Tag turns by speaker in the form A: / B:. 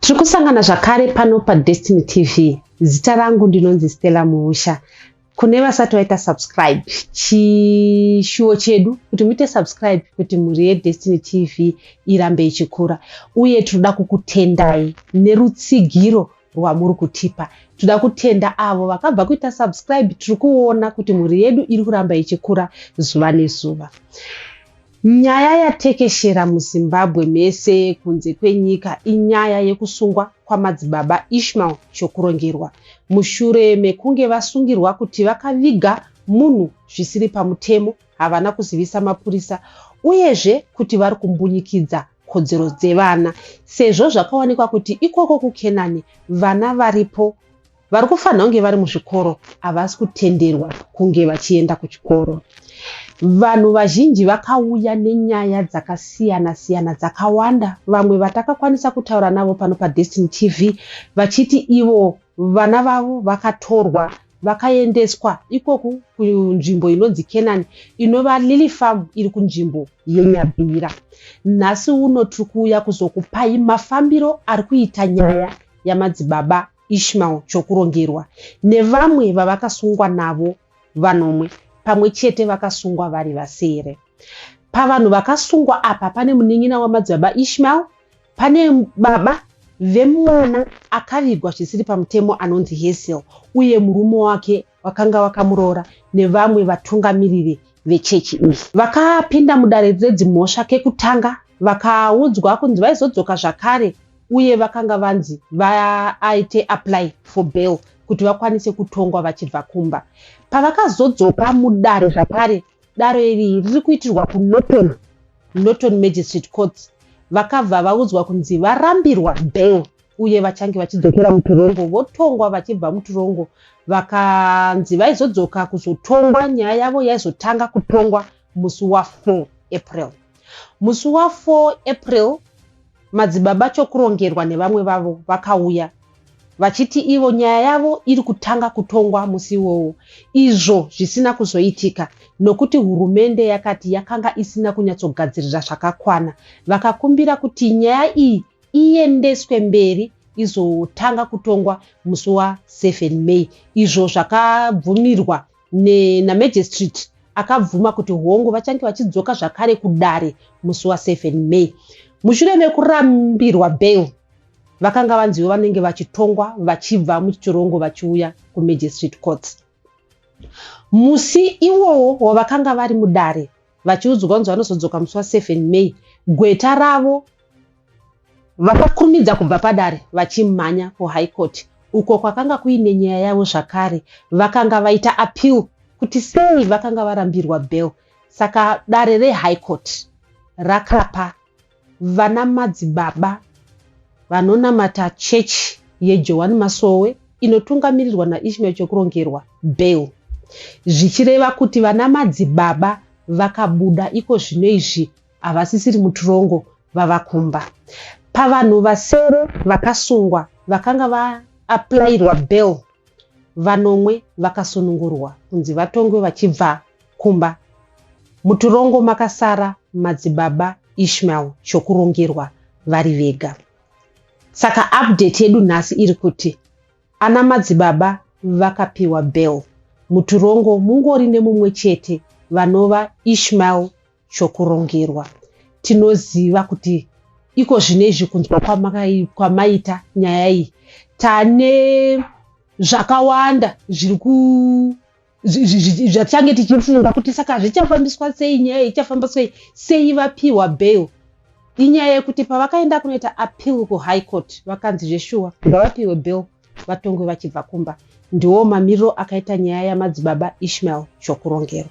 A: tiri kusangana zvakare pano padestiny tv zita rangu ndinonzi stella muusha kune vasati vaita subscribe chishuwo chedu kuti muite subscribe kuti mhuri yedestiny tv irambe ichikura uye tinoda kukutendai nerutsigiro rwamuri kutipa. Tinoda kutenda avo vakabva kuita subscribe. Tiri kuona kuti mhuri yedu iri kuramba ichikura zuva nezuva. Nyaya yatekeshera muZimbabwe mese kunze kwenyika inyaya yekusungwa kwamadzibaba Ishmael Chokurongerwa mushure mekunge vasungirwa kuti vakaviga munhu zvisiri pamutemo, havana kuzivisa mapurisa uyezve kuti vari kumbunyikidza kodzero dzevana sezvo zvakawanikwa kuti ikoko kukenani vana varipo vari kufanira kunge vari muzvikoro havasi kutenderwa kunge vachienda kuchikoro vanhu vazhinji vakauya nenyaya dzakasiyana siyana dzakawanda vamwe vatakakwanisa kutaura navo pano padestin tv vachiti ivo vana vavo vakatorwa Vakaendeswa ikoku kunzvimbo inonzi Kenani inova Lily Farm iri kunzvimbo yeNyabira. Nhasi uno tiri kuuya kuzokupai mafambiro ari kuita nyaya yamadzibaba Ishmael Chokurongerwa nevamwe vavakasungwa navo vanomwe pamwe chete vakasungwa vari vasere. Pavanhu vakasungwa apa pane munin'ina wamadzibaba Ishmael Pane baba vemwana akavigwa zvisiri pamutemo anonzi Hazel uye murume wake wakanga wakamuroora nevamwe vatungamiriri vechechi iyi. Vakapinda mudare redzimhosva kekutanga vakaudzwa kunzi vaizodzoka zvakare uye vakanga vanzi vaite apply for bail kuti vakwanise kutongwa vachibva kumba. Pavakazodzoka mudare zvakare, Dare iri riri kuitirwa kuNorton Norton Magistrate Court vakabva vaudzwa kunzi varambirwa bail uye vachange vachidzokera mutirongo votongwa vachibva mutirongo vakanzi vaizodzoka kuzotongwa nyaya yavo yaizotanga kutongwa musi wa4 april musi wa4 april Madzibaba Chokurongerwa nevamwe vavo vakauya vachiti ivo nyaya yavo iri kutanga kutongwa musi iwowo izvo zvisina kuzoitika nokuti hurumende yakati yakanga isina kunyatsogadzirira zvakakwana. Vakakumbira kuti nyaya iyi iendeswe mberi izotanga kutongwa musi wa 7 May izvo zvakabvumirwa ne, namejesitiriti akabvuma kuti hongu vachange vachidzoka zvakare kudare musi wa 7 May. Mushure mekurambirwa bail, vakanga vanziwo vanenge vachitongwa vachibva muchitorongo vachiuya kumejesitiriti courts. Musi iwowo wavakanga vari mudare, vachiudzwa kunzi vanozodzoka musi wa 7 May, gweta ravo vakakurumidza kubva padare vachimhanya kuHigh Court uko kwakanga kuine nyaya yavo zvakare. Vakanga vaita appeal kuti sei vakanga varambirwa bail saka dare reHigh Court rakapa Vana madzibaba vanonamata chechi yeJohani Masowe inotungamirirwa naIshmael Chokurongerwa, bail, zvichireva kuti vana madzibaba vakabuda iko zvino izvi havasisiri mutirongo vava kumba. Pavanhu vasere vakasungwa vakanga vaapplyirwa bail, vanomwe vakasunungurwa kunzi vatongwe vachibva kumba mutorongo makasara madzibaba Ishmael Chokurongerwa vari vega. Saka update yedu nhasi iri kuti ana madzibaba vakapiwa bail muturongo mungori nemumwe chete vanova Ishmael Chokurongerwa. Tinoziva kuti iko zvine izvi kunzwa kwamaita nyaya iyi tane zvakawanda zviri zvatitange tichifunga kuti saka zvichafambiswa sei nyaya ichafamba sei sei vapiwa bail inyaya yekuti pavakaenda kunoita appeal kuhigh court vakanzi zveshuwa ngavapiwe bail vatongwe vachibva kumba ndiwo mamiriro akaita nyaya yamadzibaba ishmael zvokurongerwa